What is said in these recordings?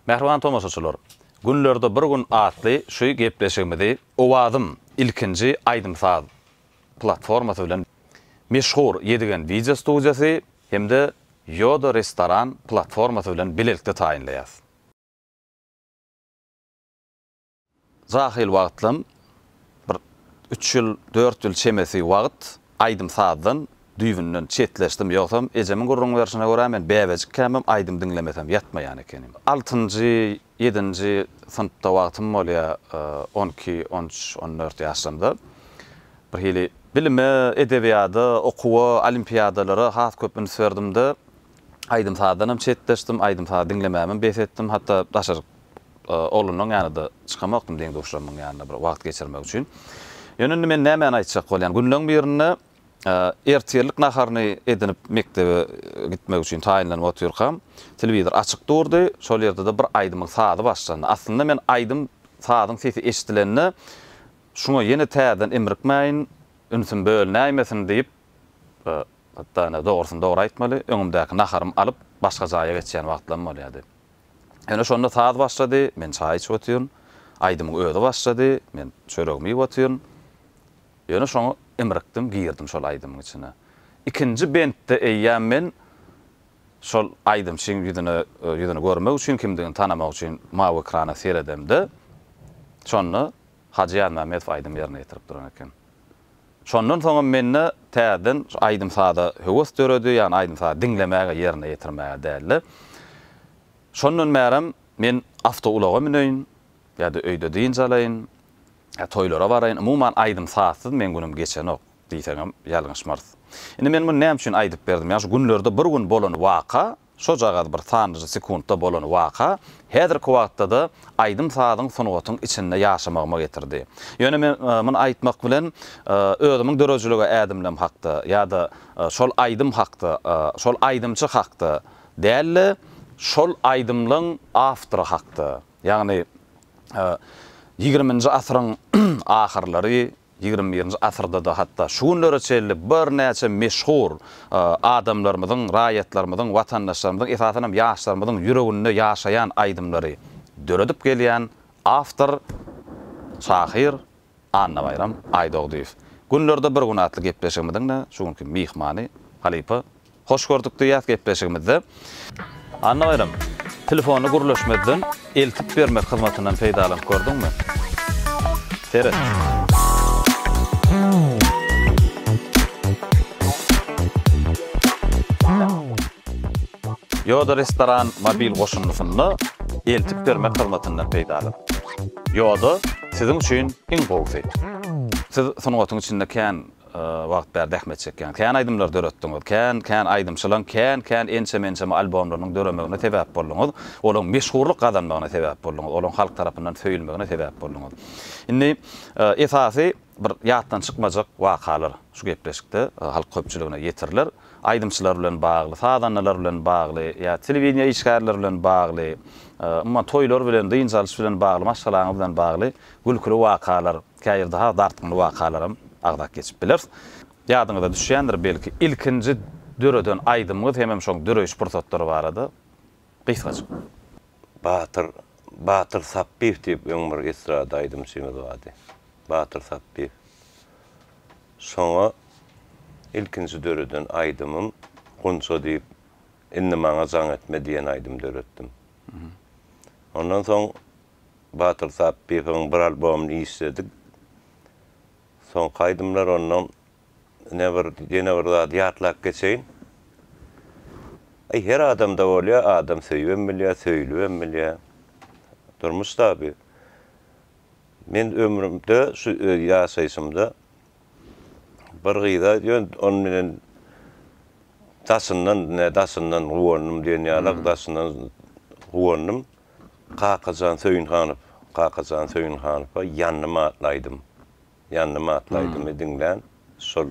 Mähriban tomaşaçylar, Günlerde bir gün atly şu gepleşigimizi Owazym, ilkinji aýdym-saz platformasy bilen meşhur Ýedigen wideo studiýasy hem-de Ýoda restoran platformasy bilen bilelikde taýynlaýarys. Jahyl wagtlam, bir üç ýyl, dört ýyl çemesi wagt aýdym-sazdan düýbünden çetleşdim. Ýogsam, ejemiň gürrüň berşine görä, men bäbejikkämem aýdym diňlemesem ýatmaýan ekenim. Altynjy, ýedinji synpda wagtym bolýar, on iki, on üç, on dört ýaşlarymda. Birhili bilime, edebiýada, okuwa, olimpiadalara has köp üns berdim-de, aýdym-sazdanam çetleşdim, aýdym-saz diňlemämem bes etdim. Hatda daşaryk oglunyň ýanyda çykamokdym deň-duşlarymyň ýanyna bir wagt geçirmek üçin. Ýöne indi men nämäni aýtjak bolýan? Günleň birinde ertirlik naharyny edinip mekdebe gitmek üçin taýynlanyp otyrkam, telewizor açyk durdy, şol ýerde-de bir aýdymyň sazy başlandy. Aslynda men aýdym sazyň sesi eşidilende şuňa ýene täzeden imrikmäýin, ünsüm bölünäýmesin diýip, hatda ine dogrusyny dogry aýtmaly, öňümdäki naharym alyp başga jaýa geçýän wagtlarym bolýardy. Ýöne şonda saz başlady, men çaý içip otyryn. Aýdymyň özi başlady, men çöregimi iýip otyryn. Ýöne şoňa imrikdim, girdim şol aýdymyň içine. Ikinji bentde eýýäm men şol aýdymçyň ýüzüne, ýüzüni görmek üçin, kimdigini tanamak üçin mawy ekrana seredemde, şonda Hajy Ýazmämmedow aýdym ýerine ýetirip duran eken. Şondan soňam mende täzeden şu aýdym-saza höwes döredi, ýagny aýdym-sazy diňlemäge, ýerine ýetirmäge dälde. Şondan bärem men awtoulaga müneýin, ýa-da öýde dynç alaýyn, ýa toýlara baraýyn, umuman aýdym-sazsyz meň günüm geçenok diýseňem ýalňyşmarys. Indi men muny näme üçin aýdyp berdim? Ýa şu günlerde bir gün bolan waka Şojagaz bir sanajy sekuntda bolan waka häzirki wagtda-da aýdym-sazyň, sungatyň içinde ýaşamagyma getirdi. Ýöne men muny aýtmak bilen özümiň döredijilige ädimlem hakda ýa-da şol aýdym hakda, şol aýdymçy hakda däl-de, şol aýdymlaň awtory hakda, ýagny ýigriminji asyryň ahyrlary, Ýigrimi birinji asyrda-da hatda şu günlere çenli birnäçe meşhur adamlarymyzyň, raýatlarymyzyň, watandaşlarymyzyň, esasan hem ýaşlarymyzyň ýüreginde ýaşaýan aýdymlary döredip gelýän awtor, şahyr Annabaýram Aýdogdyýew. Günlerde bir gün atly gepleşigimiziň-de şu günki myhmany, halypa. Hoş gördük diýýäs gepleşigimizde. Annabaýram, telefony gürleşmezden eltip bermek hyzmatyndan peýdalanyp gördüňmi? Seret. Ýoda Restoran mobil goşundysynda eltip bermek hyzmatyndan peýdalan. Ýoda siziň üçin iň gowusy. Siz sungatyň içinde kän Wagt bäri zähmet çekýän. Kän aýdymlar döretdiňiz. Kän, kän aýdymçylaň kän, kän ençeme, ençeme albomlarynyň döremegine sebäp bolduňyz. Olaň meşhurlyk gazanmagyna sebäp bolduňyz. Olaň halk tarapyndan söýülmegine sebäp bolduňyz. Indi esasy bir ýatdan çykmajak wakalar şu gepleşikde halk köpçüligine ýetiriler. Aýdymçylar bilen bagly, sazandalar bilen bagly ýa telewideniýe işgärleri bilen bagly, umuman toýlar bilen, dynç alyş bilen bagly, maşgalaňyz bilen bagly gülküli wakalar. Käýir daha dartgynly wakalaram agzap geçip bileris. Ýadyňyza düşýändir belki, ilkinji döreden aýdymyňyz hemem şoň döreýiş pursatlary barada gysgajyk. Batyr Batyr Sapbyýew diýip öň bir estrada aýdymçymyz bardy. Batyr Sapbyýew. Şoňa ilkinji döreden aýdymym Gunça diýip, Indi maňa jaň etme diýen aýdym döretdim. Ondan soň Batyr Sapbyhowyň bir albomyny işledik. Soňky aýdymlar ondan ine bir ýene bir zady ýatlap geçeýin. Aý her adamda bolýar, adam söýübem bilýär, söýlübem bilýär. Durmuş taby. Men ömrümde şu ýaşaýşymda bir gyza ýöne onuň bilen daşyndan, ne daşyndan guwandym diýen ýaly, daşyndan guwandym. Kakajan Söýünhanow Kakajan Söýünhanowa Ýandym atly aýdym. Ýandym atly aýdymy diňlän şol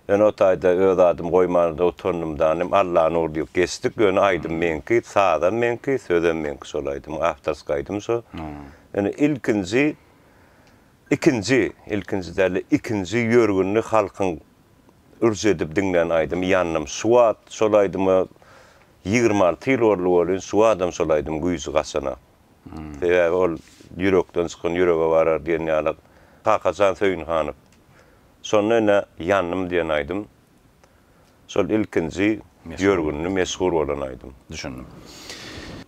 Ýöne o taýda öz adymy goýmana-da utandym danym, Allanur diýip geçdik. Ýöne aýdym meňki, sazam meňki, sözem meňki şol aýdymyň. Awtorski aýdym şo. Ýöne ilkinji ikinji, ilkinji däl-de, ikinji ýörgünli halkyň ürç edip diňlän aýdymy Ýandym. Şu wagt şol aýdyma Ýigrimi alty ýyl boldy welin suwa adam salaýdym güýji gaçana. Sebäbi ol ýürekden çykan ýürege barar diýen ýaly Kakajan Söýünhanow. Şonda ine Ýandym diýen aýdym şol ilkinji ýörgünli meşhur bolan aýdym. Düşündim.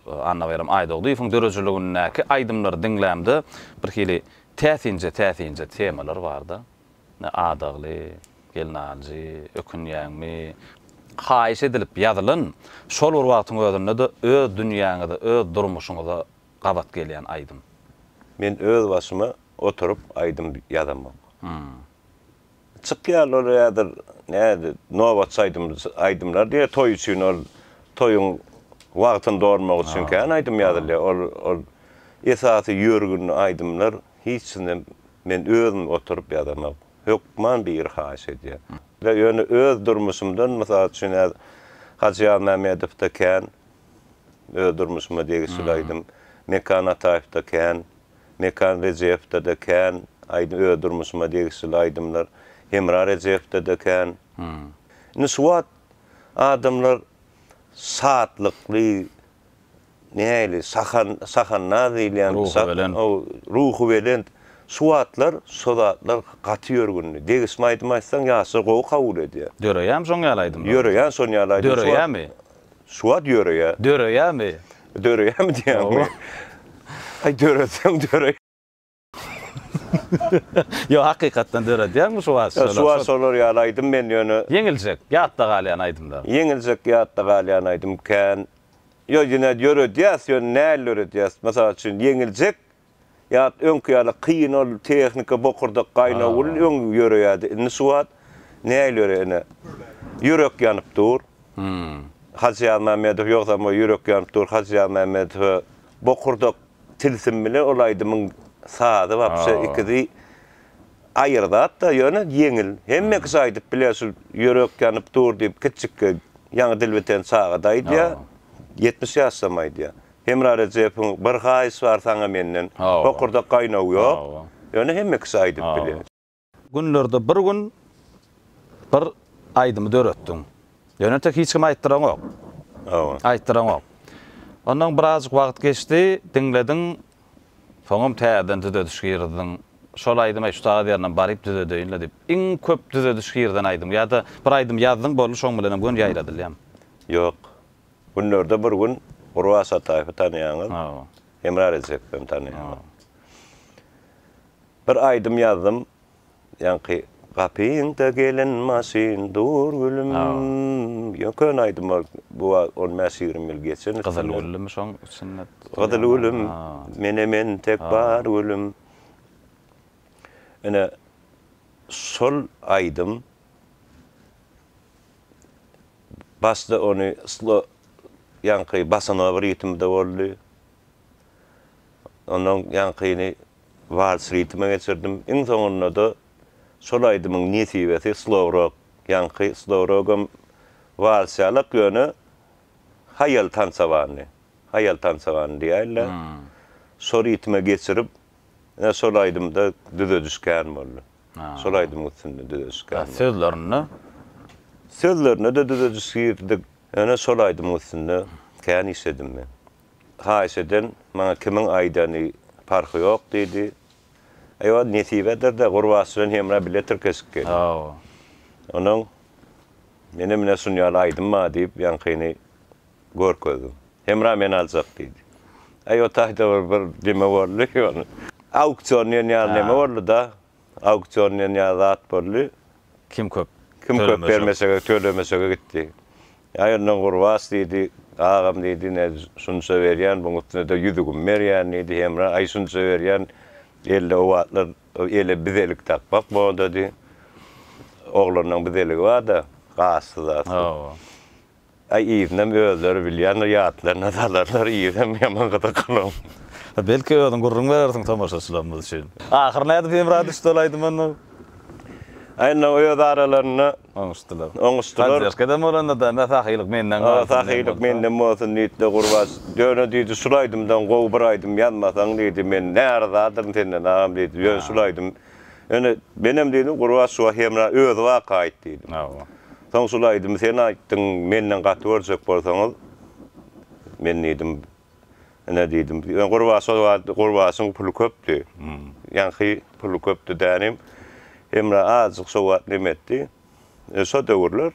Annabaýram Aýdogdyýewiň döredijiligindäki aýdymlary diňlämde birhili täsinje täsinje temalar barda. Ne adagly, Gelnaljy, ökünýäňmi? Haýyş edilip ýazylyn, şol bir wagtyň özünde-de öz dünýäňize, öz durmuşyňyza gabat gelýän aýdym. Men öz başyma oturyp aýdym ýazamok. Çykýarlar ol häzir, näde, nobatçy aýdym, aýdymlar diýýär toý üçin, ol toýuň wagtyny dolmak üçin kän aýdym ýazylýar. Ol, ol esasy ýörgünli aýdymlar Hiçne men özüm oturyp ýazamak. Hökman biri haýyş edýär. Ýöne öz durmuşymdan mysal üçin häz Hajy Ýazmämmedowda kän, öz durmuşyma degişli aýdym. Mekan Ataýewde kän, Mekan Rejepde-de kän aýdym, öz durmuşyma degişli aýdymlar. Hemra Rejepde-de kän. Indi şu wagt adamlar şatlykly. Nähili sahan, sahannaz diýilýän Ruhubelent. Sa-o, Ruhubelent. Şu wagtlar şo zatlar gaty ýörgünli. Degişme aýdym aýtsaň ýaşlar gowy kabul edýär. Döreýämi şoň ýaly aýdymlar? Ýöreýär şon ýaly aýdym. Şu wagt- Döreýämi? Şu wagt ýöreýär. Döreýämi? Döreýärmi diýýäňmi? Hawa. Aý döretseň döre. Ýok, hakykatdan döredýärmi şu wagt şolar? Şu wagt şolar ýaly aýdym men ýöne. Ýeňiljek, ýatda galýan aýdymlar. Ýeňiljek, ýatda galýan aýdym kän. Ýok, ýene döredýäs, ýöne näl döredýäs? Mysal üçin, ýeňiljek, ýat öňki ýaly kyn ol tehnika, bokurdak gaýnaw ol öň ýöreýärdi. Indi şu wagt näl ýöre ene? Ýürek ýanyp dur. Hajy Ýazmämmedow, ýogsam o ýürek ýanyp dur, Hajy Ýazmämmedow, bokurdak Tilsim bilen ol aýdymyň sazy wapşe ikisi aýry zatda ýöne ýeňil. Hemme kişi aýdyp biler şul Ýürek ýanyp dur diýip kiçjikki ýaňy dil biten çagada aýdýar. Ýetmiş ýaşdam aýdýar. Hemra Rejepowyň Bir haýyş bar saňa menden. Bokurdak gaýnaw ýok. Ýöne hemme kişi aýdyp biler. Günlerde bir gün bir aýdymy döretdiň. Ýönetek hiç kime aýtdyraňok. Hawa. Aýtdyraňok. Ondan birazjyk wagt geçdi, diňlediň, soňam täzeden düzediş girdiň. Şol aýdymy aý şu sagat ýerinem baryp düzedeýin-le diýip. Iň köp düzediş girden aýdym ýa-da bir aýdym ýazdyň boldy şoň bilenem gön ýaýradylýamy? Ýok. Günlerde bir gün Gurbat Sataýewi tanaýaňyz. Hawa. Hemra Rejepowany tanaýaňyz. Bir aýdym ýazdym ýaňky Gapyňda gelen maşyn dur gülüm ýok köne aýdym ol bu wagt on bäş ýigrimi ýyl geçen üstünden. Gyzyl gülümi şoň içinde tutulýan. Gyzyl gülüm mene men tek bar gülüm ine şol aýdym başda ony slo ýaňky basanyga bir ýitimi-de boldy. Ondan ýaňkyny wals ritme geçirdim. Iň soňunda-da şol aýdymyň nesibesi slow rock. Ýaňky slow rock-am walsçalak, ýöne haýal tansawandy. Haýal tansawandy diýäýinler. Şo ritme geçirip, ine şol aýdymda düzediş kän boldy. Şol aýdymyň üstünde düzediş kän boldy. Sözlerinde? Sözlerine-de düzediş girizdik. Ýöne şol aýdymyň üstünde kän işledim men. Haýyş eden, maňa kimiň aýdany parhy ýok, diýdi. Eýwa, nesibedir-de, gurbaç bilen hemra bile tirkeşik geldi. Onuň, Menem ine şun ýaly aýdym bar, diýip, ýaňkyny görkezdim. Hemra meni aljak, diýdi. Eýwa, taýda bir bir deme boldy. Ýöne, auksion diýen ýaly neme boldy-da. Auksion diýen ýaly zat boldy. Kim köp. Kim köp bermeşege, tölemeşege gitdi. Ýa ýönden Gurbas diýdi, Agam diýdi, ine, şunça berýän, buň üstüne-de ýüzügimi berýän diýdi. Hemra, Aý, şunça berýän, elde o wagtlar ele bizelik dakmak modady. Oglanlaň bizeligi bar-da, gazsyz-azsyz. Aý, yzynam özleri bilýändir, ýatlaryna salarlar, yzynam ýaman gyzyklygyň. Belki, özüň gürrüň berersiň tomaşaçylarymyz üçin. Ahyry nädip Hemra düşdi ol aýdym onda? Aý, indi öz aralarynda Oňuşdylar. Oňuşdylar. Poddežkada bolanda-da, Ynha, sahylyk menden galsyn. Ynha, sahylyk menden bolsun, diýdi-de, Gurbaç. Ýöne, diýdi, şul aýdymdan gowy bir aýdym ýazmasaň, diýdi, men närizadyryn senden, agam, diýdi. Ýöne şul aýdym, ýöne, menem, diýdim, Gurbaç şu wagt hemra özi waka aýt, diýdim. Hawa. Soň şul aýdymy sen aýtdyň, menden gaty görjek bolsaňyz, men, diýdim, Ine diýdim. Ýöne Gurbaş ol wagt Gurbaşyň puly köpdi. Ýaňky puly köpdi dänim. Hemra azajyk şo wagt neme etdi. Şo döwürler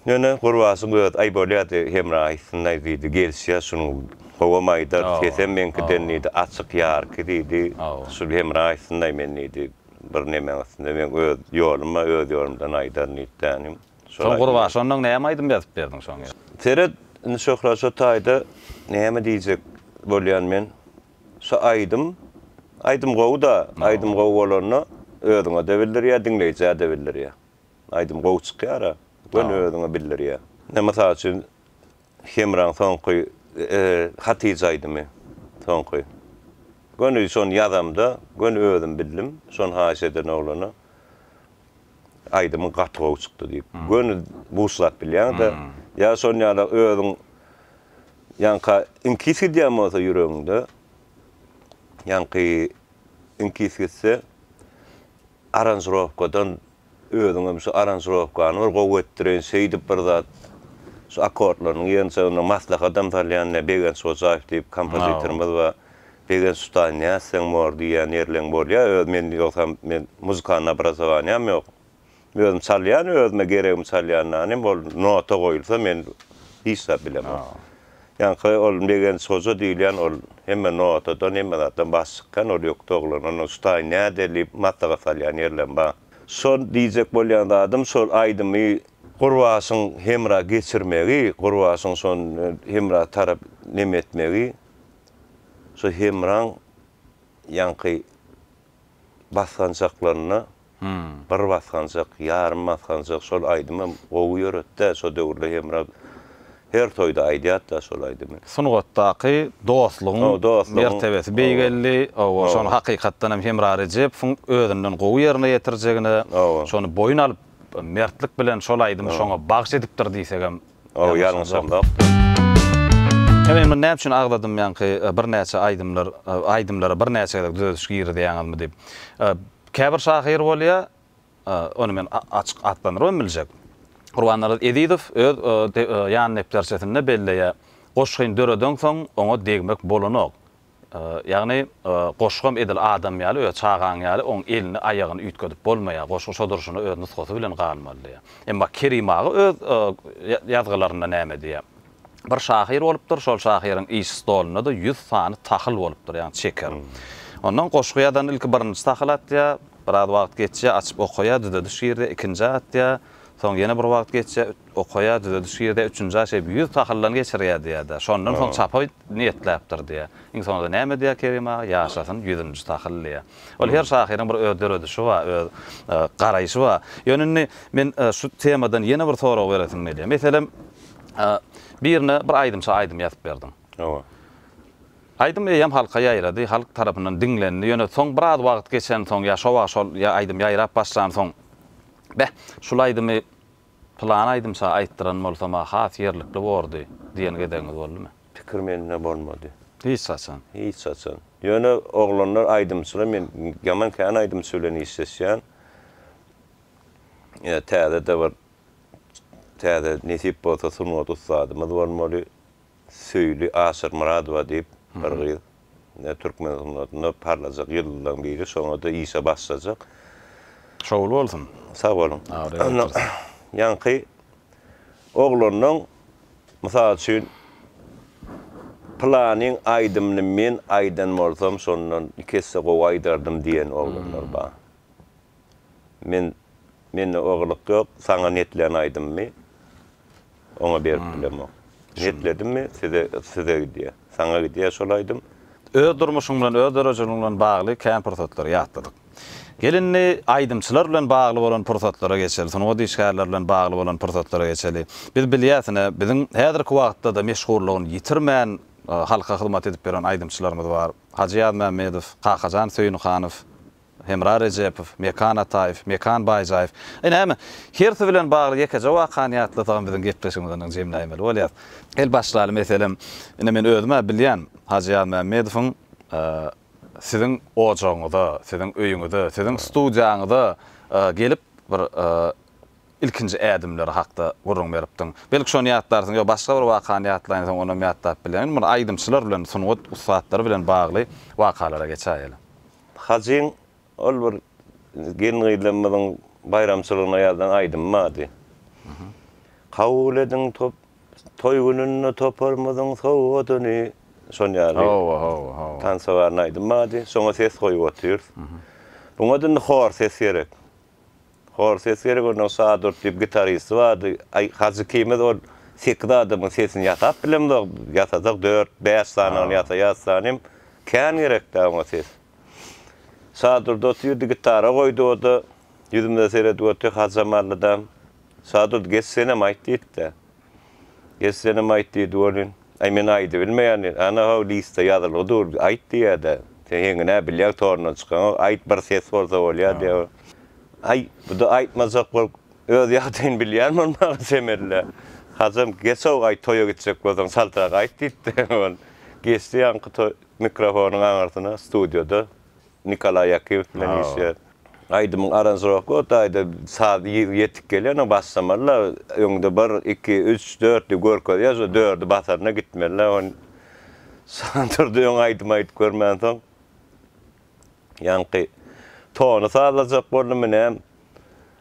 ýöne Gurbaşyň özi aý bolýardy Hemra aýtsyn-aý diýdi. Gelişýär şunuň howam aýdar, sesem meňkiden diýdi, açyk ýarky diýdi. Şul Hemra aýtsyn-aý men diýdi. Bir nemäň üstünde meň öz ýoluma öz ýolumdan aýdaryn diýdi dänim. Soň gurba şondan näme aýdym ýazyp berdiň şoň ýa. Seret indi Şöhrat şo taýda näme diýjek bolýan men şo aýdym aýdym gowy da aýdym gowy bolanda özüňede bildirýä diňleýjäde bildirýä aýdym gowy çykýara göni özüňe bildirýä ine mysal üçin Hemraň soňky Hatyja aýdymy soňky. Göni şony ýazamda göni özüm bildim. Şony haýyş eden oglana aýdymyň gaty gowy çykdy diýip. Göni buşlap bilýäňdä. Ýa şon ýala özüň ýaňka iňkis gidýän bolsa ýüregiňde ýaňky iňkis gitse. Aranžirowkadan özüňem şu aranžirowkany bir gowy etdireýin, şeýdip bir zat, şu akkordlarynyň ýygyncagynda maslahatam salýan ne Begenç Hojaýew diýip kompozitorymyz bar. Begenç usta, nätseň bor diýýän ýerleň bolýa. Öz men ýogsam men muzykanny obrazowaniýam ýok. Özüm çalýan, özüme geregimi çalýandan hem ol nota goýulsa men hiç zat bilemok. Ýaňky ol Begenç hoja diýilýän ol hemme notadan, hemme zatdan baş çykýan ol ýokdy oglan. Ondan şutaýyn näder diýip maslahat salýan ýerlem bar. Şol diýjek bolýan zadym şol aýdymy Gurbaşyň hemra geçirmegi, Gurbaşyň şon hemra tarap neme etmegi, şo hemraň ýaňky basgançaklarynda bir basgançak ýarym basgançak şol aýdymam gowy ýöretdä şo döwürde Hemra her toýda aýdýatda şol aýdymy. Sungatdaky dostlugyň mertebesi beýgeldi owo şony hakykatdanam Hemra Rejepowyň özünden gowy ýerine ýetirjegine şony boýun alyp mertlik bilen şol aýdymy şoňa bagş edipdir diýsegem Ow ýalňyşam zokdy. Ýa men muny näme üçin agzadym ýaňky birnäçe aýdymlar aýdymlara birnäçe gezek düzediş girizýäňizmi diýip. Käbir şahyr bolýa, ony men açyk atlandyrybam biljek. Gurbannarazz Ezizow öz ýan depderçesinde belleýä, Goşgyny döredeňsoň oňa degmek bolanok. Ýagny, goşgam edil adam ýaly we çagaň ýaly oň elini, aýagyny üýtgedip bolmaýar. Goşgy şo durşuna öz nusgasy bilen galmaly diýýär. Emma Kerim aga öz ýazgylarynda näme diýýär? Bir şahyr bolupdyr, şol şahyryň iş stolunda-da ýüz sany tahyl bolupdyr, ýagny çeker. Ondan goşgy ýazan ilki birinji tahyly atýar, biraz wagt geçýär, açyp okaýar, düzediş girizýär, ikinji atýar, soň ýene bir wagt geçýär, Okaýar, düzedi, şu ýerde üçünji aý şeýdip ýüz tahyldan geçirýär diýýär-de, şondan soň çapa niýetläpdir diýýär. Iň soňunda näme diýýär Kerim aga? Ýaşasyn ýüzünji tahyl diýýär. Ol her şahyryň bir öz döredişi bar, öz garaýşy bar. Ýöne indi men şu temadan ýene bir sorag beresim gelýär. Meselem, birine bir aýdymça aýdym ýazyp berdiň. Hawa. Aýdym eýýäm halka ýaýrady, halk tarapyndan diňlendi. Ýöne soň biraz wagt geçensoň ýa şo wagt şol aýdym ýaýrap başlansoň, Beh, şul aýdymy Pylan aýdymça aýtdyran bolsam-a has ýerlikli bordy diýen gezegiňiz boldumy? Pikir mende bolmady. Hiç haçan. Hiç haçan. Ýöne oglanlar aýdymçylar men ýaman kän aýdymçy bilen işleşýän. Ýa täze-de bir täze nesip bolsa sungat ussadymyz bolmaly. Söýli Aşyrmyradowa diýip bir gyz. Ine, türkmen sunnatynda parlajak ýyldyzlaryň biri. Şoňa-da işe başlajak. Şowly bolsun. Sag boluň. Ýaňky oglanlaň, mysal üçin, pylanyň aýdymyny men aýdan bolsam, şondan iki esse gowy aýdardym diýen oglanlar bar. Men, mende o gylyk ýok. Saňa netlän aýdymymy Oňa berip bilemok. Niýetledimmi, size, size gidýär. Saňa gidýär şol aýdym. Öz durmuşyň bilen, öz dörejiligiň bilen bagly kän pursatlary ýatladyk. Gel indi aýdymçylar bilen bagly bolan pursatlara geçeli, sungat işgärleri bilen bagly bolan pursatlara geçeli. Biz bilýäs ine, biziň häzirki wagtda-da meşhurlygyny ýitirmän halka hyzmat edip ýören aýdymçylarymyz bar. Hajy Ýazmämmedow, Kakajan Söýünhanow, Hemra Rejepow, Mekan Ataýew, Mekan Baýjaýew. Aý näme, hersi bilen bagly ýekeje wakany ýatlasagam biziň gepleşigimiz ondan jemläýmeli bolýar. El başlaly meselem, ine men özüm-ä bilýän, Hajy Ýazmämmedowyň siziň ojagyňyza, siziň öýüňize, siziň studiýaňyza gelip bir ilkinji ädimleri hakda gürrüň beripdiň. Belki şony ýatlarsyň, ýa başga bir wakany ýatlaýyn diýseň onam ýatlap bilýän. Indi bir aýdymçylar bilen, sungat ussatlary bilen bagly wakalara geçäýeli. Hajyň ol bir gelin-gyzlarymyzyň baýramçylygyna ýazylan aýdymy bardy. Kabul ediň top, toý gününde toparymyzyň sowgadyny. Şon ýaly. Hawa, hawa, hawa. Tansowarny aýdym bardy. Şoňa ses goýup otyrys. Buňa-da indi hor ses gerek. Hor ses gerek ondan sadurt diýip gitaristi bardy. Aý Hajy ikimiz ol sekiz adamyň sesini ýasap bilemzok. Ýasasak dört, bäş sanyny ýasaýas sanym. Kän gerekdä oňa ses. Sadurt otyrdy gitara goýdy oda ýüzümize seredip otyr Hajamallydam. Sadurt geç senem aýt diýipdä. Eslenem aýt diýdi welin, Aý, men aýdybilmeýän diýdi. Ana-haw, listda ýazylgy dur, aýt diýýä-de. Sen heňine-ä bilýäň torundan çykaňok, aýt, bir ses bolsa bolýa diýýä. Aý, bu-da aýtmajak bolup, öz ýagdaýyny bilýän bolmaga çemeli-le. Hajam, geç-ow, aý, toýa gitjek bolsaň, çaltrak aýt diýdi-de, ol geçdi ýaňky toý mikrofonyň aňyrsyna, studiýada. Nikolaý Ýakyýew bilen işleýär. Aýdymyň aranžirowka o taýda saz ýetik gelýär, ony basamaly-la, öňde bir, iki, üç, dört diýip görkezýär, şo dördi basanda gitmeli-la, ony Sandurdy öň aýdym aýdyp görmänsoň, ýaňky tony sazlajak boldum, ine,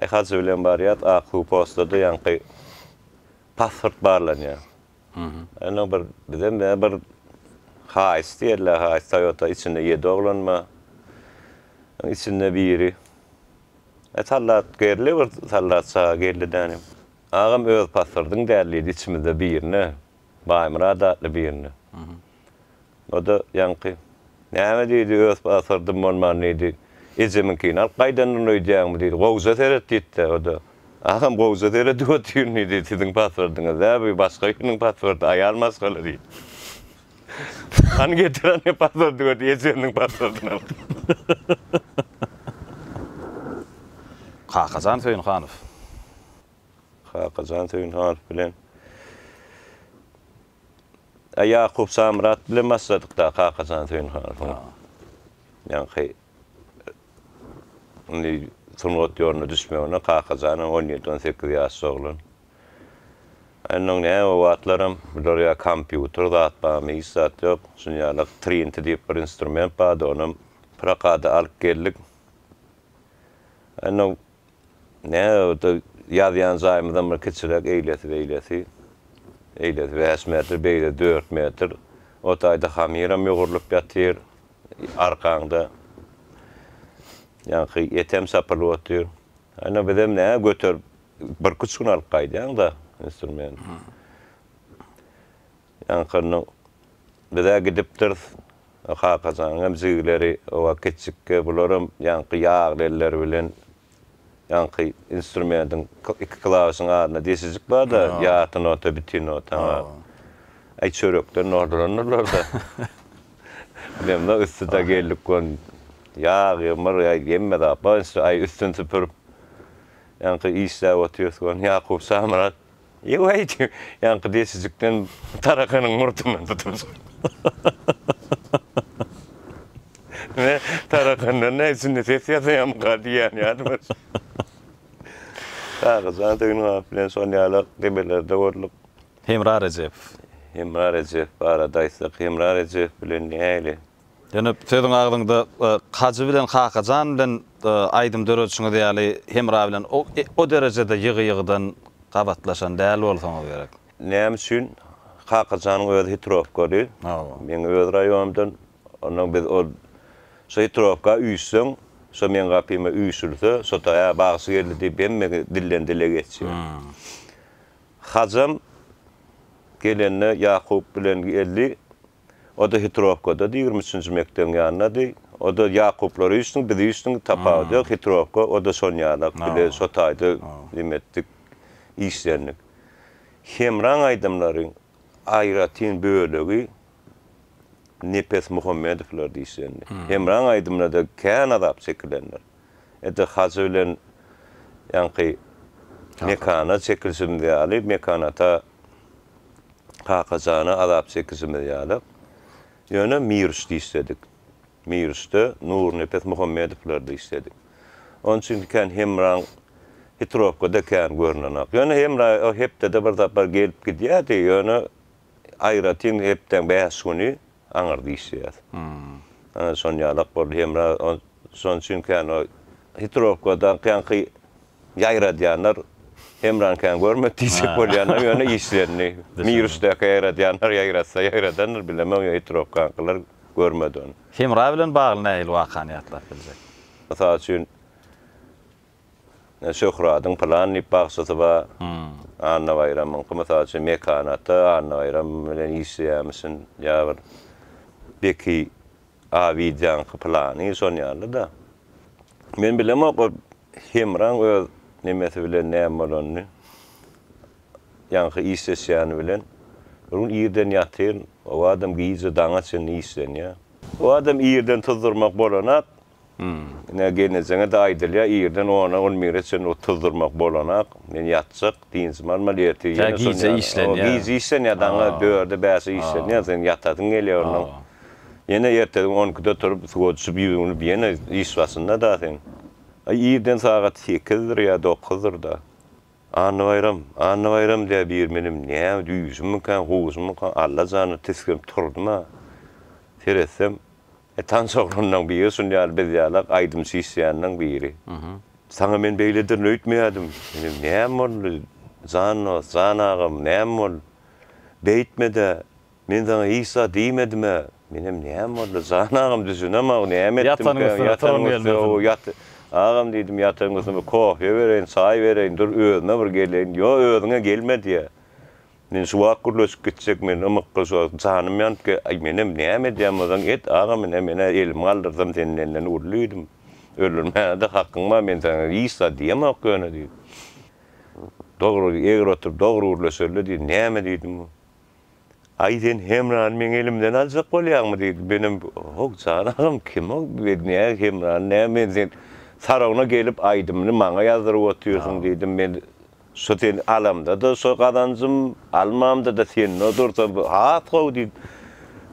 Aý hajy bilen barýas ak suw postada ýaňky pasport barlanýar. Ýöne bir bizem ýa bir haýys diýerler haýys Toyota içinde ýedi oglan bar. Içinde biri e sallat gerli bir sallat çaga geldi dänim. Agam öz pasportyň däl diýdi içimizde birine Baýmyrat atly birine. O-da ýaňky, Näme diýdi, öz paswordym bolman diýdi, ejemiňkini alyp gaýdandyryň öýdýäňmi diýdi, gowja seret diýdi-de, o-da, Agam gowja seredip otyryn diýdi, siziň paswordyňyz däl bu, başga biriniň paswordy, aýal maşgala diýdi. Hany getir ony paswordy gör diýdi, ejemniň paswordyny alyp. Kakajan Söýünhanow. Kakajan Söýünhanow bilen. Ýakup Samyrat bilen başladyk-da, Kakajan Söýünhanowyň ýaňky indi sungat ýoluna düşmegine. Kakajan hem on ýedi-on sekiz ýaşly oglan. Onnoň näme, o wagtlaram bular ýa kompýuter zat barmy, hiç zat ýok. Şunuň ýaly trinti diýip bir instrument bardy, onam prokata alyp geldik. Onnoň. Nädogrudy, ýazýan jaýymyzam bir kiçiräk, eýlesi beýlesi. Eýlesi bäş metr, beýlesi dört metr. O taýda hamyram ýugrulyp ýatyr arkaňda. Ýaňky etem çapylyp otyr. Ýöne bizem nä, göterip birküç gün alyp gaýdýaň-da instrumenti. Ýaňkyny biz-ä gidipdiris. Kakajanyňam jigileri oba gitjikge, bularam ýaňky ýagly elleri bilen ýaňky instrumentiň iki klawişiň arasynda deşijik bar-da, ýarty nota, bitin nota. Aý, çörekden nordurandyrlar-da. Bilemzok, üsti-de geldik gon. Ýag-ýymyr, hemme zat bar. Aý, üstüni süpürip, ýaňky işläp otyrys gon. Ýakup Şamyrat Ýow äýt, ýaňky desijikden tarakanyň murtundan tutursyň. Men tarakandan näme üçin ses ýasaýamyka diýýän ýaly bir. Kagyzjana Döwnugaow bilen şol ýala debelerde gördik. Hemra Rejepow. Hemra Rejepow barada aýtsak, Hemra Rejepow bilen nähili? Ýöne sözüň agzyňda Kajy bilen Kakajan bilen aýdym döredişiňiz ýaly Hemra bilen o derejede ýygy-ýygydan gabatlaşan däl bolsaňyz gerek. Näme üçin? Kakajanyň özi Hitrowkaly. Meň öz raýonymdan. Onnoň biz ol Şo Hitrowka üýşseň, şo meň gapyma üýşülse, şo-da Ä, bagşy geldi diýip hemme dilden-dile geçýär. Kajam gelende Ýakup bilen geldi. O-da Hitrowkada, ýigrimi üçünji mekdebiň ýanyndady. O-da Ýakuplar üýşdüň, biz üýşdüň, tapawudy ýok. Hitrowka, o-da şonuň ýalak. Bile şo taýda lim etdik, işlendik. Hemraň aýdymlary aýratyn bölegi Nepes Muhammedowlarda işlendi. Hemraň aýdymlarda kän azap çekilendir. Edil Hajy bilen ýaňky Mekana çekilişimiz ýaly, Mekan ata Kakajana azap çekişimiz ýaly. Ýöne Miriçde işledik. Miriçde Nurnepes Muhammedowlarda işledik. Onuň üçin kän Hemraň Hitrowkada kän görnenok. Ýöne Hemra hepdede bir sapar gelip gidýärdi. Ýöne aýratyn hepdäň bäş güni aňyrdy işleýär. Ana şon ýalak boldy Hemra şon üçin kän o hitrowka dakýanky ýaýradýanlar Hemrany kän görmedi diýjek bolýanam ýöne işlendi. Miruşdaka ýaýradýanlar ýaýratsa ýaýradandyr bilemok ýöne hitrowkankylar görmedi ony. Hemra bilen bagly nähili wakany ýatlap biljek? Mysal üçin Şöhradyň pylan diýip bagçysy bar. Annabaýramyňky, mysal üçin, Mekany ata Annabaýram bilen işleýärmişin, ýa bir Beki Abidýaňky pylany, şon ýaly-da. Men bilemok o Hemraň öz nemesi bilen näme bolanyny, ýaňky işleşýäni bilen. Bir gün irden ýatyr, o adam gije daňa çenli işlenýär. O adam irden tuzdurmak bolanak, Ine, gelnejeňe-de aýdylýar, irden ona, on bire çenli ot tuzdurmak bolanak. Men ýatjak, dynjymy almaly, ertir ýene şon ýaly. Gije işlenýär. Gije işlenýär, daňy dörde, bäşe işlenýär, seň ýatasyň gelýär onnoň. Ýene erteden on ikide turup, suwa düşüp, ýuwunyp, ýene iş başynda-da sen. Aý, irden sagat sekizdir ýa dokuzdyr-da. Annabaýram, Annabaýram diýýär biri menem, näme, düýşümmika, huşummyka, Alla jana tisginip turdum-a. Seretsem. E tans oglanlaň biri şun ýaly biz ýalak aýdymçy işleýänlaň biri. Saňa men beýlederin öýtmeýädim. Indi näme boldy? Jan dos, jan agam näme boldy? Beýtmedä. Men saňa hiç zat diýmedim-ä. Menem näme boldy? Jan agam düşünemok näme etdim kä ýatanyň üstüne ýat. Agam diýdim ýatanyň üstüne bir kohýa bereýin, çaý bereýin dur özüme bir geleýin. Ýo özüňe gelme diýýä. Men şu wagt gürleşip gitjek men ymykly şu wagt janym ýanyp ge aý menem näme edýän bolsaň et agam ine menä elimi galdyrsam sen menden uly diýdim öldürmäne-de hakyň bar men saňa hiç zat diýemok ýöne diýdim dogry egri otur dogry gürleşeli diýdim näme diýdim aý sen Hemrany meň elimden aljak bolýaňmy diýdim menem hok jan agam kim ol men nä Hemrany nä men sen saragyna gelip aýdymyny maňa ýazdyryp otyrsyň diýdim men Şo sen alamda-da şo gazanjym, almamda-da sende dursa has gowy diýip,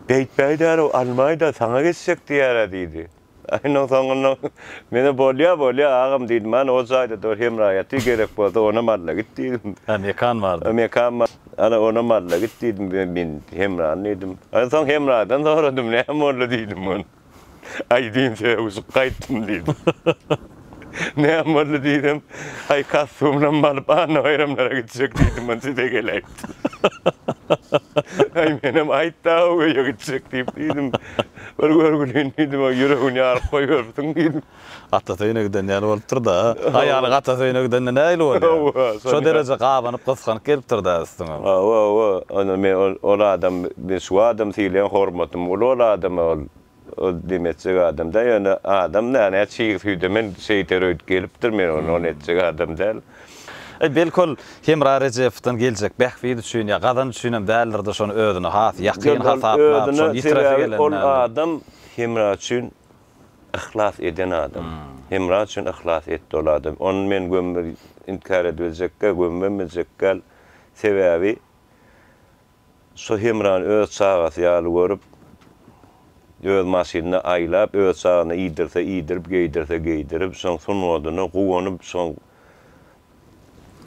Beýtmäýdä-ow, almaý-da, saňa geçjek diýer-ä diýdi. Aýynyň soňunda men-ä Bolýa, bolýa, agam diýdim. Hany, o jaýda dur, hemra ýaty, gerek bolsa onam alla git diýdim. Hä, mekan bardy. Mekan bar. Hany, onam alla git diýdim, men hemrany diýdim. Aýynyň soň hemradan soradym, näme boldy diýdim, hany. Aýdym sögüşip gaýtdym diýdi. Näme boldy diýsem, Aý, kostýumynam alyp, annabaýramlara gitjek diýdim, ony size geläýipdi. Aý, menem aýt-da-ow öýe gitjek diýip diýdim. Bir görgülin diýdim, ýüregini ýaryp goýberipsiň diýdim. Atasy öýüne giden ýaly bolupdyr-da. Aýaly gatasy öýüne gidende nähili bolýar? Şo dereje gabanyp, gysganyp gelipdir-dä üstüňem. Hawa, hawa. Onda men ol, ol adam, men şu adamy sylaýan, hormatym uly ol adama, ol, ol deme etjek adam däl. Ýöne adam näne çig süýde men şeýter öýdüp gelipdir, men ony, ony etjek adam däl. Aý, belki ol Hemra Rejepowdan geljek bähbit üçin ýa gazanç üçinem däldir-de, şony özüne has ýakyn hasaplap, şony ýitiresi gelendendir. Ol adam Hemra üçin Yhlas eden adam. Hemra üçin yhlas etdi ol adam. Ony men gömme inkär edibiljekgä, gömmem biljekgäl. Sebäbi şu Hemrany öz çagasy ýaly görüp, öz maşynynda aýlap, öz çagyna iýdirse iýdirip, geýdirse geýdirip, şoň sungatyna guwanyp, şoň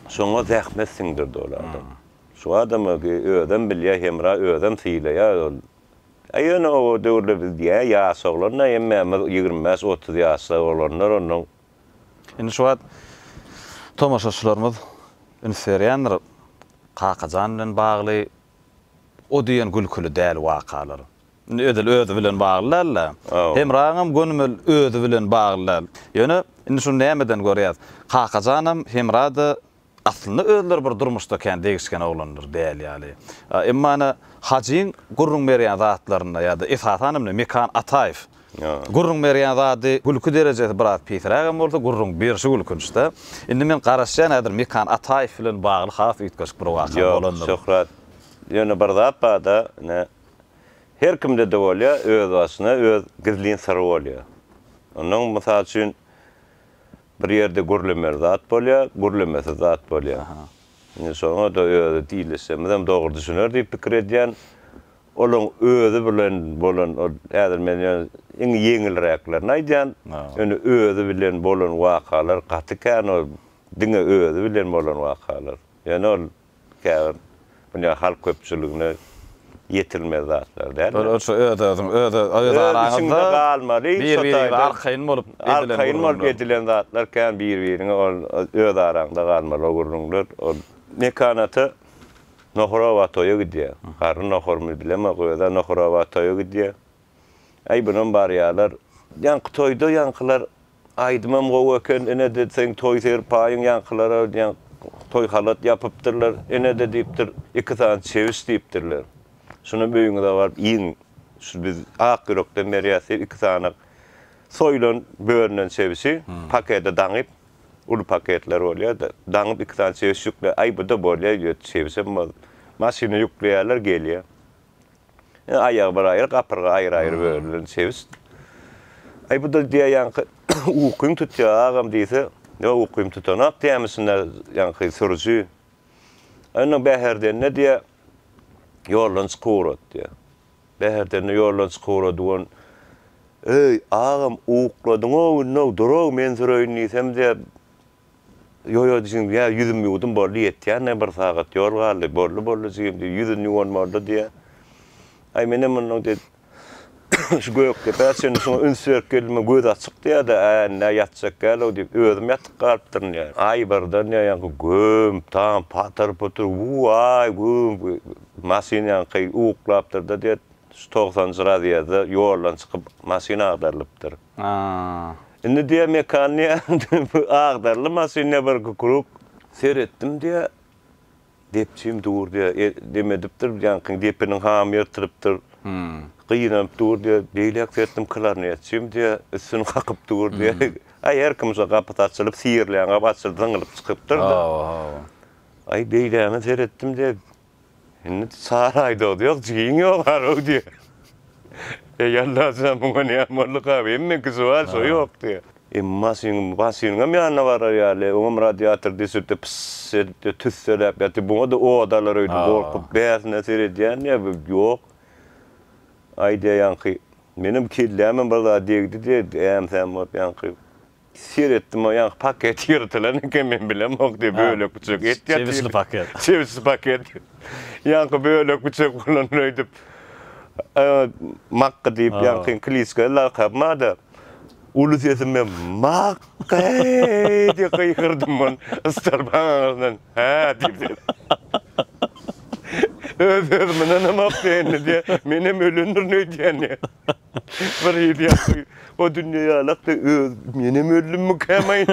şoňa zähmet siňdirdi ol adam. Şu adama özem bilýär, Hemra özem sylaýar ol Ä ýöne o döwürler biz ýa ýaş oglandy hemmämiz ýigrimi bäş otuz ýaşda oglanlar onnoň. Indi şu wagt tomaşaçylarymyz üns berýändir Kakajan bilen bagly o diýen gülküli däl wakalar. Indi edil özi bilen bagly däl-de. Hemraňam gönümel özi bilen bagly däl. Ýöne indi şuny nämeden görýäs? Kakajanam Hemra-da Aslynda özleri bir durmuşda kän degişgen oglanlar däl ýaly. Emma ene Hajyň gürrüň berýän zatlarynda ýa-da esasan hem Mekan Ataýew gürrüň berýän zady gülki derejesi biraz pisräk hem bolsa gürrüň berşi gülkünçde. Indi men garaşýan häzir Mekan Ataýew bilen bagly has üýtgeşik bir waka bolandygyny. Ýok Şöhrat. Ýöne bir zat barda ene her kimdede bolýar özbaşyna öz gizlin syry bolýar. Ondan mysal üçin Bir ýerde gürlemeli zat bolýar, gürlemesiz zat bolýar. Indi şoňa-da özi diýleşsemizem dogry düşüner diýip pikir edýän. Olaň özi bilen bolan ol, häzir men ýöne iň ýeňilräklerini aýdýan. Ýöne özi bilen bolan wakalar gaty kän ol, diňe özi bilen bolan wakalar. Ýöne ol Käbir dünýä halk köpçüligine ýetilmez zatlar däldir. Ol şu öz-özüň, öz-öz, öz araňyzda bir-biriňize arkaýyn bolup edilen gürrüňler. Arkaýyn bolup edilen zatlar kän bir-biriňe ol öz araňda galmaly o gürrüňler. Ol Mekanata Nohurawa toýa gidýär. Garry nohurmy bilemok öz-ä Nohurawa toýa gidýär. Äý bunam barýarlar. Ýaňky toýda ýaňkylar Aýdymam gowy eken ine-de seň toý serpaýyň ýaňkylara diýen toý halat ýapypdyrlar. Ine-de diýipdir, iki sany çebiş diýipdirler. Şunam öýüňize baryp iýiň. Şu biz ak ýürekden berýäs diýip, iki sany soýulan bölünen çebişi pakete daňyp, uly paketler bolýar-da, daňyp iki sany çebiş ýükläp, aý bu-da bolýa öýdýär, çebişem bol. Maşyna ýükleýärler, gelýär. Aýagy bir aýry, gapyrga aýry-aýry bölünen sebit. Aý, bu-da diýýär, ýaňky ukyň tutýar, agam diýse, ýok, ukym tutanok diýýärmişin-dä, ýaňky sürüji. Aý, onda Bäherdende diýýär, ýoldan çykyp ugrat diýýär. Bäherdende ýoldan çykyp ugrady we Eý, agam, ukladyň-ow, indi-ow, dur-ow, men süreýin diýsem diýýär, Ýo-ýo jigim, ýa ýüzüm ýuwdum boldy, ýetýän-ä, bir sagat ýol galdy. Boldy-boldy jigim, diýip, ýüzün ýuwan boldy, diýýär. Aý, menem mundan tez şu Gökdepä çenli şuňa üns berip geldim-ä, gözi açyk, diýýär-de, Ä, indi-ä ýatjak däl-ow, diýip, özüm ýatyp galypdyryn, diýýär. Aý, birden, diýýär, ýaňky göm-tam, patyr-putyr, wu-aý, güm, maşyn ýaňky uklapdyr-da, diýýär, şu togsanjy razýezde ýoldan çykyp, maşyn agdarylypdyr. Aaa. Indi diýýär Mekan diýýär bu agdarly maşyn diýýär bir kukuruk. Seretdim diýýär. Depjim dur diýýär. E dem edipdir ýaňky depiniň hamy ýyrtylypdyr. Gynanyp dur diýýär. Beýläk seretdim klarnetçim diýýär. Üstüni kakyp dur diýýär. Aý her kim şo gapysy açylyp sirleýän gapy açylyp zyňylyp çykypdyr-da. Hawa hawa. Aý beýlägine seretdim diýýär. Indi çar aý dogdy ýok jigiň ýok arow diýýär. Eý Allajan muňa näme boldukab hemmeňki suwal şo ýok diýýär. Emmi maşynyň maşynyňam ýanyna barar ýaly oňam radiator düşüpdi pyss edipdi tüsseläp ýatyp buňada ot alar öýdüp gorkup bärsine seredýän ýa ýok aýdýar ýaňky menem kellämem bir zat degdi diýýär äm säm bolup ýaňky Seretdim o ýaňky paket ýyrtylan eken men bilemok diýip bölek biçek et ýatyr. Çebisli paket. Çebisli paket. Ýaňky bölek biçek bolan öýdüp makga diýip ýaňky kliçka lakabymada uly sesim bilen makga eý diýip gygyrdym men ystalbaň aňyrdan hä diýip öz özüme ynanamok diýen indi menem ölendirin öýdýän diýip. Bir hili ýaşy o dünýe ýalak da öz menem öldümmi kämaýyn.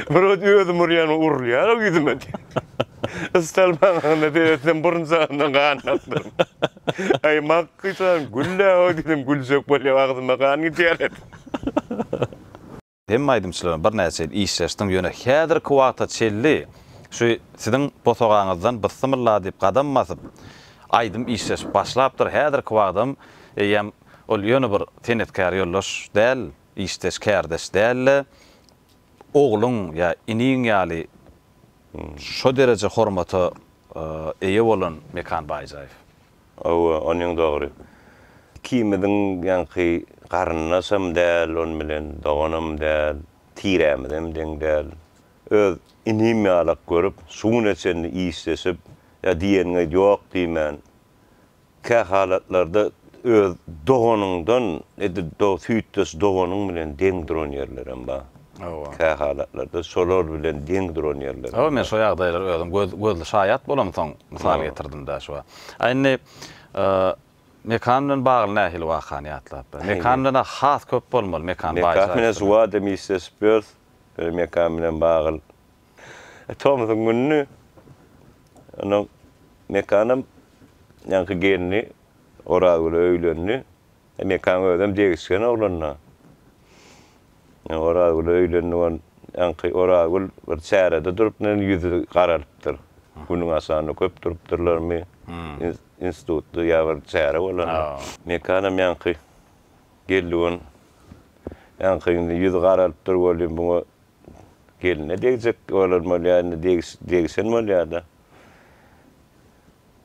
Bir ot özüm urýan urulýar o ýüzüme. Istal maňyna seretdim burun jagyndan gan akdyr. Aý makgysan güllä o diýdim güljek bolýar agzyma gan gidýär. Hemme aýdymçylar bilen birnäçe ýyl işleşdim, ýöne häzirki wagta çenli şu siziň bosagaňyzdan bysymylla diýip gadam basyp, aýdym işleşip başlapdyr. Häzirki wagtam eýýäm ol ýöne bir senetkär ýoldaş däl, işdeş, kärdeş däl-de, ogluň ýa iniň ýaly şo dereje hormata eýe bolan Mekan Baýjaýew. Hawa, onuň dogry. Ikimiziň ýaňky garyndaşam däl, onuň bilen doganam däl, tirämizem deň däl. Öz inim ýalak görüp, şu güne çenli işleşip, ýa diýeniňe ýok diýmän, kähalatlarda öz doganyňdan, edil süýtdeş doganyň bilen deň duran ýerlerem bar. Hawa. Kähalatlarda şolar bilen deň duran ýerler bar. Hawa, men şo ýagdaýlara özüm göz gözli şaýat bolamsoň mysal getirdim dä şuwa. A indi Mekan bilen bagly nähili wakany ýatlap ber. Mekan bilen-ä has köp bolmaly, Mekan baý şaýat. Mekan bilen suwada Missis Birth bir Mekan bilen bagyl tomsuň gününi onuň Mekanam ýaňky gelni Orazgüle öýlendi. Mekan özem degişgen oglan-da. Orazgül öýlendik on ýaňky Orazgül bir çärede durup men ýüzi garalypdyr. Günüň aşagynda köp durupdyrlarmy. Institutda ýa bir çäre bolanda. Mekanam ýaňky geldik on ýaňky indi ýüzi garalypdyr welin bu geline degjek bolan bolýar indi degişen bolýar-da.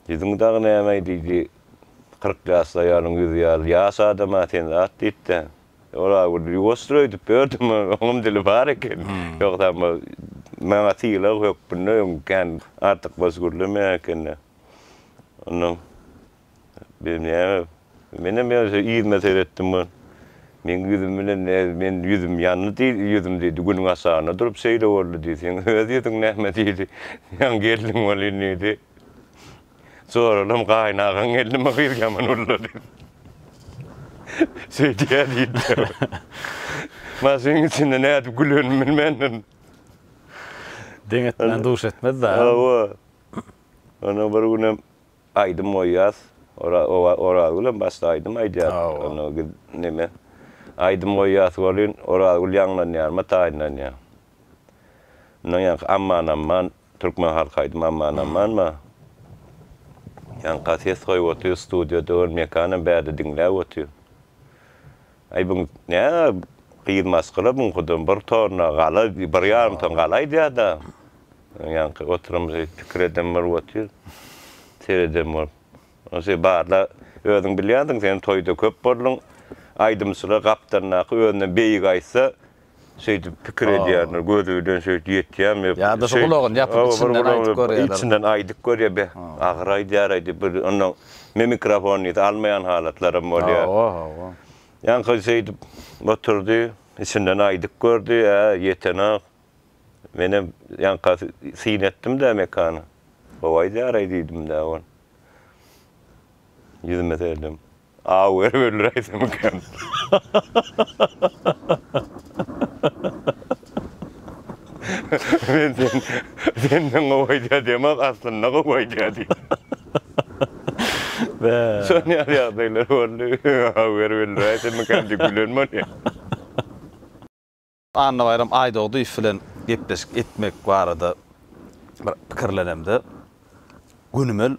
Ýüzüň dagy näme diýdi. Kyrk ýaşly aýalyň ýüzi ýaly ýaş adam-a sen zat diýip-de. Ola gürrüň ýuwasdyr öýdüp ýördüm. Oňam dili bar eken. Ýogsa bu maňa sylag hökmünde öň kän artykmaç gürlemeýän ekeni. Ondan biz näme? Menem ýöne yzyma seretdim. Meň ýüzüm bilen näz men ýüzüm ýandy diý, ýüzüm diýdi, günüň aşagynda durup şeýle boldy diý. Seň öz ýüzüň näme diýdi. Ýaňy geldiň welin diýdi. Soralam, Gaýynagaň gelnimi gyz ýaman ulla diýip, söýdýär diýdiler. Maňa şunuň içinde nädip gülenimi bilmändim. Deň etmän duş etmez-dä. Hawa. Ondan bir günem aýdym goýýas. Orazgülem başda aýdym aýdýar. Onda gyz neme. Aýdym goýýas welin, Orazgül ýaňlanýarmy, taýynlanýar. Mundan ýaňky amman-amman Türkmen halk aýdymy Aman Aman ba. Ýaňka ses goýup otyr studio döl mekanam bärde diňläp otyr. Aý bu nä gyz maskala buňkuda bir torna gala bir ýarym ton gala aýdýada. Ýaňky oturamyzy pikir eden bolup otyr. Sereden bolup. Ose barla özüň bilýänsiň sen toýda köp bolduň. Aýdymçylar gapdalyndaky özünden beýigi aýtsa şeýdip pikir edýärler, gözi bilen şeýdip ýetýärmi? Ýa-da şu gulagyny ýapyp, içinden aýdyp görýär. Içinden aýdyp görýär, beh, agyr aýdýar-aý diýip, bir onnoň mimikrofon diýse almaýan halatlaram bolýar. Hawa, hawa. Ýaňky şeýdip oturdy, içinden aýdyp gördi, ä, ýetenok. Menem ýaňkasy syn etdim-dä mekany. Gowy aýdýar-aý diýdim-dä ol. Ýüzüme serdim. Aw berip öldüräýsemmikäm? Men sen, senden gowy aýdýar diýemok, aslynda gowy aýdýar diýdim. Bä. Şon ýaly ýagdaýlar boldy. Aw berip öldüräýsemmikäm diýip gülen bolýar. Annabaýram Aýdogdyýew bilen gepleşik etmek barada bir pikirlenemde, gönümel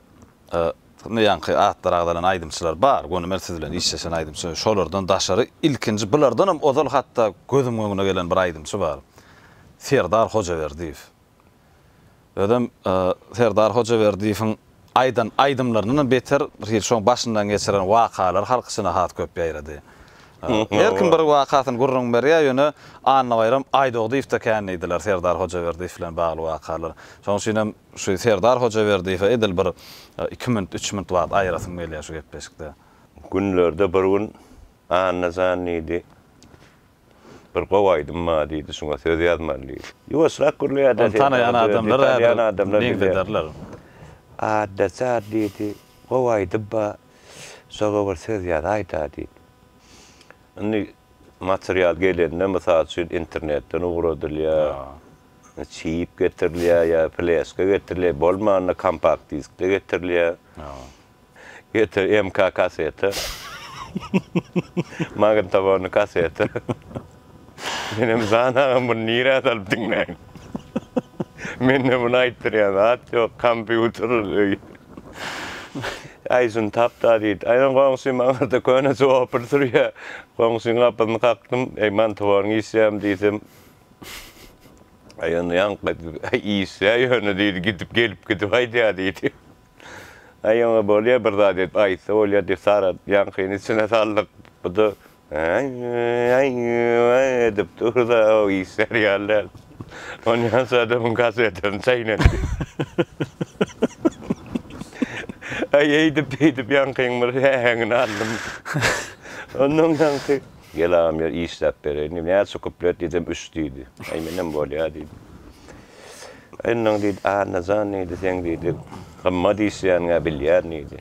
bu ýaňky atlary agzalan aýdymçylar bar, gönümel siz bilen işleşen aýdymçy, şolardan daşary ilkinji bulardanam ozal hatda gözümiň öňüne gelen bir aýdymçy bar, Serdar Hojaberdiýew. Özem Serdar Hojaberdiýewiň aýdan aýdymlaryndanam beter hil şoň başyndan geçiren wakalary halk içine has köp ýaýrady. Her kim bir wakasyny gürrüň berýär, ýöne Annabaýram Aýdogdyýewde kän diýdiler Serdar Hojaberdiýew bilen bagly wakalar. Şoň üçinem şu Serdar Hojaberdiýewe edil bir iki minut, üç minut wagt aýyrasym gelýär şu gepleşikde. Günlerde bir gün Anna jan diýdi. Bir gowy aýdym bar diýdi, şuňa söz ýazmaly diýdi. Ýuwaşrak gürleýärdi. Ony tanaýan adamlar häzir meňzederler. Atdaşar diýdi, gowy aýdym bar, şoňa bir söz ýazaýda diýdi. Indi material gelende, mysal üçin, internetden ugradylýar, çip getirilýär ýa fleşka getirilýär, bolmanda kompakt diskde getirilýär. Getir MK kaseti. Magnitofonly kaseti. Menem Zan agam buny nirä salyp diňläýin. Mende muny aýtdyrýan zat ýok, kompýuter öý. Aý şuny tap-da diýdi. Aýdan goňşy maňarda köne swopr sürýä. Goňşyň gapysyny kakdym. Eý magnitofonyň işýämi diýsem. Aý onda ýaňky işýä ýöne diýdi gidip gelip gidip aýdýa diýdi. Aý oňa bolýa bir zat edip aýtsa bolýa diýip Sarat ýaňkyny içine saldyk. Bu-da aý-aý-aý edip dur-da ow işlär ýaly däl. Onýan Saratyň kasetini çaýnady. Aý eýdip-beýdip ýaňkyň bir säheňini aldym. Ondan ýaňky. Gel agam ýör işläp bereýin diýip näçe kuplet diýsem üç diýdi. Aý menem bolýa diýdim. Yndan, diýdi, Annajan, diýdi, seň, diýdi, gymmat işleýäniň-ä bilýän, diýdi.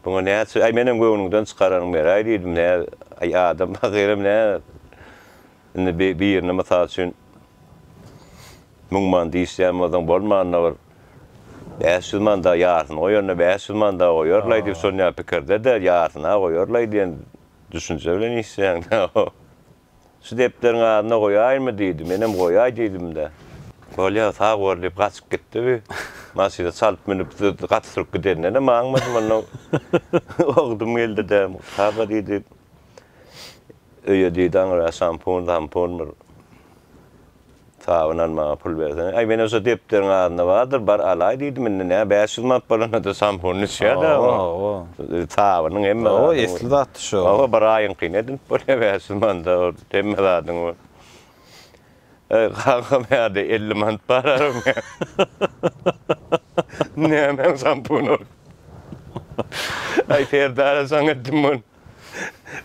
Buňa näçe, aý, menem göwnüňden çykaranyň beräý, diýdim, nä, aý, adam pahyram, nä, indi bi, birine, mysal üçin, müň manat işleýän bolsaň, bolmanda bir bäş ýüz manada ýarysyny goýanda bäş ýüz manada goýarlaý diýip, şonýa pikirde-de, ýarysyny-a goýarlaý diýen düşünje bilen işleýäň-dä. Şu depderiň adyna goýaýynmy diýdi. Menem goýaý diýdim-de. Bolýa, sag bol diýip gaçyp gitdi bi. Maşyna çalyp münüp gaty sürüp gidenine-de maňmadym. Onda ogdum geldi-de, Mugt aga diýdi, öýe diýdi aňra şampun-zampun bir. Sabyn almaga pul bersene. Aý, men olsa depderiň adynda bardyr, bar alaý diýdim. Indi nä, bäş ýüz manat bolanda-da sampuny içýär-dä o. Hawa. Sabynyň hemme zadyň. Hawa, esli zatdy şo. Hawa, bir aýyňky nädip bolýar bäş ýüz manada ol hemme zadyň bar. Aý, kaka, mäde elli manat bar aram. Nämäň sampun ol? Aý, Serdara saň etdim muny.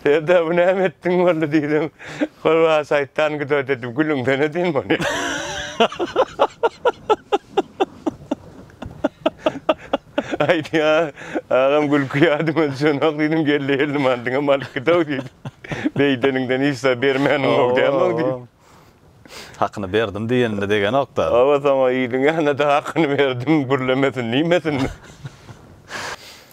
Eda bu näme etdiň boldy diýdim. Gurwa şaýtan güdä dedi. Gülüňden edin muny. Aýdýa agam gülki ýadyma düşenok diýdim geldi geldi mandyňam alyp gidew diýdi. Beýdeniňden hiç zat bermäniň gowdäm-ow diýdi. Hakyny berdim diýenini degenok-da. Hawa, soň-a iliň ýanyna-da hakyny berdim gürlemesin, diýmesin.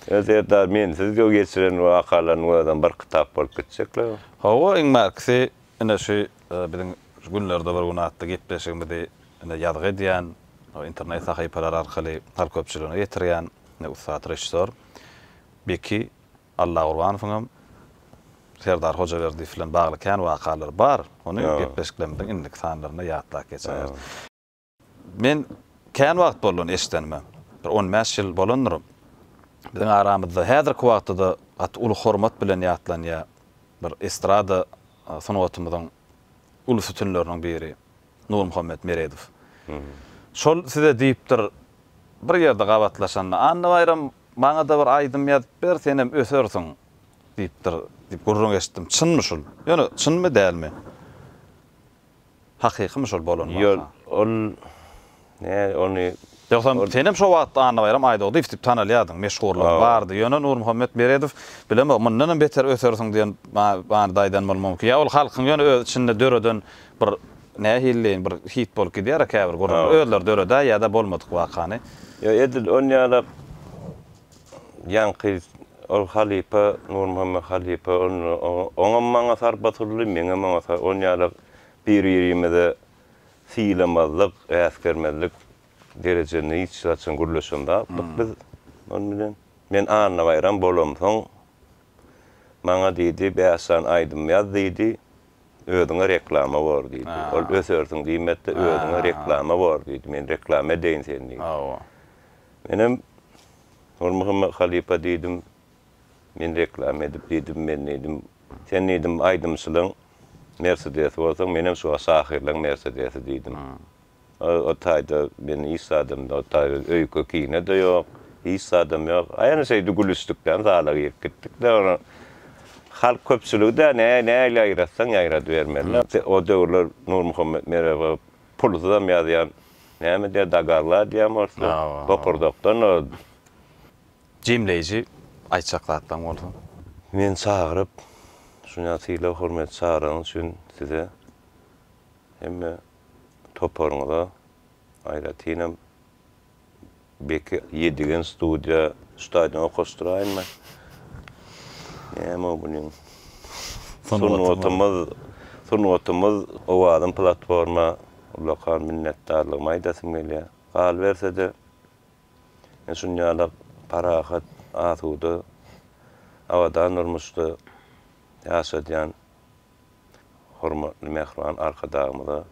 Ýa Serdar, men siz göw geçiren bu wakalarynyň özem bir kitap bolup gitjek-la. Hawa, iň mäkisi, ine şu biziň şu günlerde bir gün atly gepleşigimizi ine ýazgy edýän, o internet sahypalary arkaly halk köpçüligine ýetirýän ine ussat režissýor Beki Allagurbanowyň hem Serdar Hojaberdiýew bilen bagly kän wakalary bar. Ony gepleşiklerimiziň indiki sanlarynda ýatlap geçäýeris. Men kän wagt boldy ony eşidenime. Bir on bäş ýyl bolandyr. Biziň aramyzda häzirki wagtda-da gaty uly hormat bilen ýatlanýar bir estrada sungatymyzyň uly sütünleriniň biri Nurmuhammet Meredow. Şol size diýipdir, bir ýerde gabatlaşanda, Annabaýram Maňa-da bir aýdym ýazyp ber, senem ösersiň! diýipdir, diýip gürrüň eşitdim. Çynmy şul? Ýöne çynmy, dälmi? Hakykymy şol bolan waka? Ýok, ol, näge, ony. Ýogsam, senem şo wagt Annabaýram Aýdogdyýew diýip tanalýardyň, meşhurlygyň bardy. Ýöne Nurmuhammet Beredow, bilemok, mundanam beter ösersiň diýen many daýdan bolmagy mümkin. Ýa ol halkyň ýöne öz içinde döreden Bir nähilileýin bir hit bolup gidýär-ä käbir gürrüňler. Özleri döredä ýa-da bolmadyk wakany. Ýa edil onýalap ýaňky ol halypa, Nurmuhammet halypa onda oňam maňa sarp atyldy, meňem oňa sarp. Onýalap bir-birimize sylamazlyk, äsgermezlik derejesinde hiç haçan gürleşen zatlyk biz ol bilen. Men Annabaýram bolamsoň, maňa diýdi, bäş sany aýdym ýaz diýdi. Özüňe reklama bor diýdi. Ol ösersiň diýmedi-de, özüňe reklama bor diýdi. Men reklama edeýin seni diýdi. Hawa. Menem Nurmuhammet halypa diýdim. Men reklama edip diýdim, men diýdim. Sen diýdim aýdymçylaň Mersedesi bolsaň, menem şu wagt şahyrlaň Mersedesi diýdim. O taýda men hiç zadam-da, o taýda öýke-kine-de ýok, hiç zadam ýok. Aýany şeýdip gülüşdikden zala girip gitdik-de, ony halk köpçüligi-de nähili ýaýratsaň ýaýradybermeli. O döwürler Nurmuhammet Merwga pulsyzam ýazýan, näme diýýär, dagaglar diýýärmi oruslar, bokurdakdan o. Jemleýji aýtjak zatlaryň bolsa? Meni çagyryp, şunça sylag-hormat çagyraryňyz üçin size Hemme toparyňyza, aýratynam Beki. Ýedigen studiýa stadion okaşdyraýyn men. Näme bunin sungatymyz sungatymyz owazym platforma ullakan minnetdarlygymy aýdasym gelýä. Galybersede men şunýala parahat asuda abadan durmuşda ýaşadýan. Hormatly Mähriban Arkadagymyza,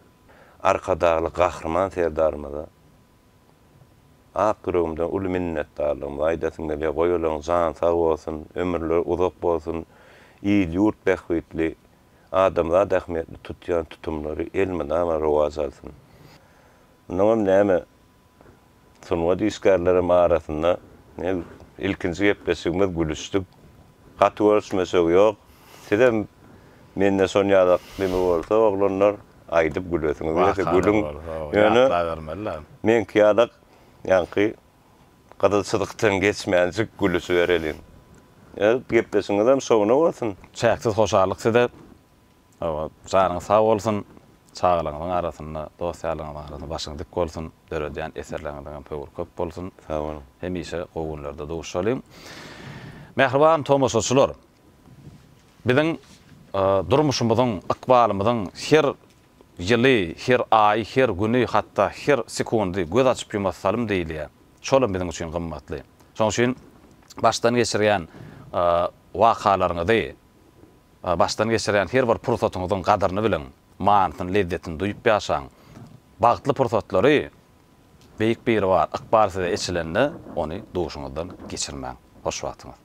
Arkadagly Gahryman Serdarymyza ak ýüregimden uly minnetdarlygymy aýdasym gelýär. Goýalaň jany sag bolsun, ömürleri uzak bolsun, il-ýurt bähbitli, adamzat ähmiýetli tutýan tutumlary elmydama rowaç alsyn. Mundan näme Sungat işgärlerem arasynda ilkinji gepleşigimiz gülüşdik. Gaty görüşmesek ýok. Sizem mende şon ýaly neme bolsa oglanlar aýdyp gülesiňiz gelse gülüň. Ýöne meňki ýaly ýaňky gyzyl çyzykdan geçmänjik gülüşibereliň. Gepleşigiňizem şowuna bolsun. Çäksiz hoşallyk size. Hawa, janyňyz sag bolsun. Çagalaryňyzyň arasynda, dost-ýarlaryňyzyň arasynda başyňyz dik bolsun. Döredýän eserleriňiziň hem höwri köp bolsun. Sag boluň. Hemişe gowy günlerde duşalyň. Mähriban tomaşaçylar, biziň durmuşymyzyň, ykbalymyzyň her ýyly, her aýy, her güni, hatda her sekundy göz açyp-ýumasy salym diýilýär. Şolam biziň üçin gymmatly. Şonuň üçin başdan geçirýän wakalaryňyzy, Başdan geçirýän her bir pursatyňyzyň gadyryny biliň, manysyny, lezzetini duýup ýaşaň. Bagtly pursatlary Beýik Biribar ykbal size eçilende, ony duşuňyzdan geçirmäň. Hoş wagtyňyz.